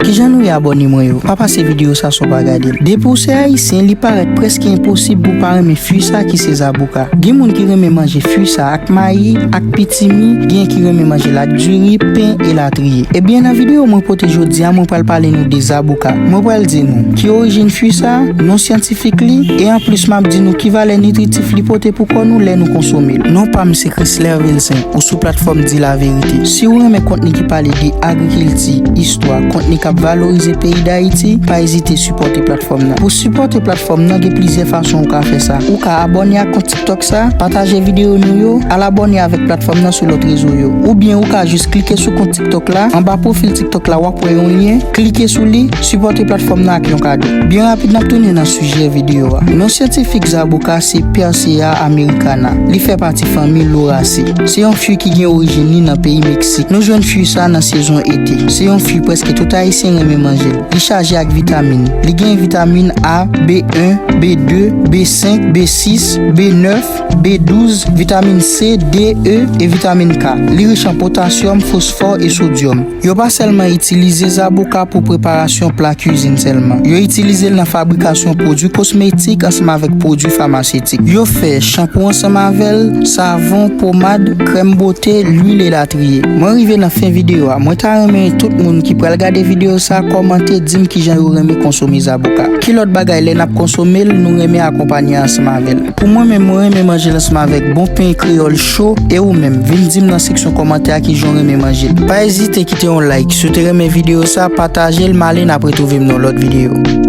Kijan nou ye abòne mwen yo pa pase video sa san w pa gade l depi w se ayisyen li parèt prèske enposib pou w pa renmen fui sa ki se zaboka gen moun ki renmen manje fui sa ak mayi ak pitimi gen ki renmen manje l ak diri pen elatriye ebyen nan video mwen pote jodia mwen pral pale nou de zaboka mwen pral di nou ki orijin fui sa non syantifik li e anplis m ap di nou ki valè nitritif li pote pou kò nou lè nou konsome l non pa m se Chrisler Vilcent ou sou platfòm di laverite si w renmen kontni ki pale de agrikilti. Kilti, istwa, kontni k ap valorize peyi Dayiti, pa ezite sipòte platfòm nan. Pou sipòte platfòm nan gen plizyè fason ou ka fè sa. Ou ka abòne ak kont TikTok sa, pataje videyo nou yo, al abòne avèk platfòm nan sou lòt rezo yo. Oubyen ou ka jis klike sou kont TikTok la, anba pwofil TikTok la w ap wè yon lyen, klike sou li, sipòte platfòm nan ak yon kado. Byen rapid n ap tounen nan sijè videyo a. Non syantifik zaboka se Persea americana. Li fè pati fanmi Lauraceae. Se yon fui ki gen orijin li nan peyi Meksik. Nou jwenn fui sa nan sezon ete. Se yon fui preske tout Ayisyen renmen manje l. Li chaje ak vitamin. Li gen vitamin A, B1, B2, B5, B6, B9, B12, vitamin C, D, E e vitamin K. Li rich an potasyòm, fosfò e sodyòm. Yo pa sèlman itilize zaboka pou preparasyon pla kizin sèlman. Yo itilize l nan fabrikasyon pwodui kosmetik ansanm avèk pwodui famasetik. Yo fè chanpou ansanm avè l, savon. savon, pomad, krèm bote, lwil elatriye. Mwen rive nan fen videyo a, mwen ta renmen tout moun ki pral gade videyo sa kòmante dim kijan yo renmen konsome zaboka. Ki lòt bagay lè nap konsome l nou renmen akonpanye ansanm avè l? Pou mwen menm mwen renmen manje l ansanm avèk bon pen kreyòl cho, e ou menm? Vin dim nan seksyon kòmantè a kijan w renmen manje l. Pa ezite kite yon like si w te renmen videyo sa, pataje l, m ale nap retrouve m nan yon lòt videyo.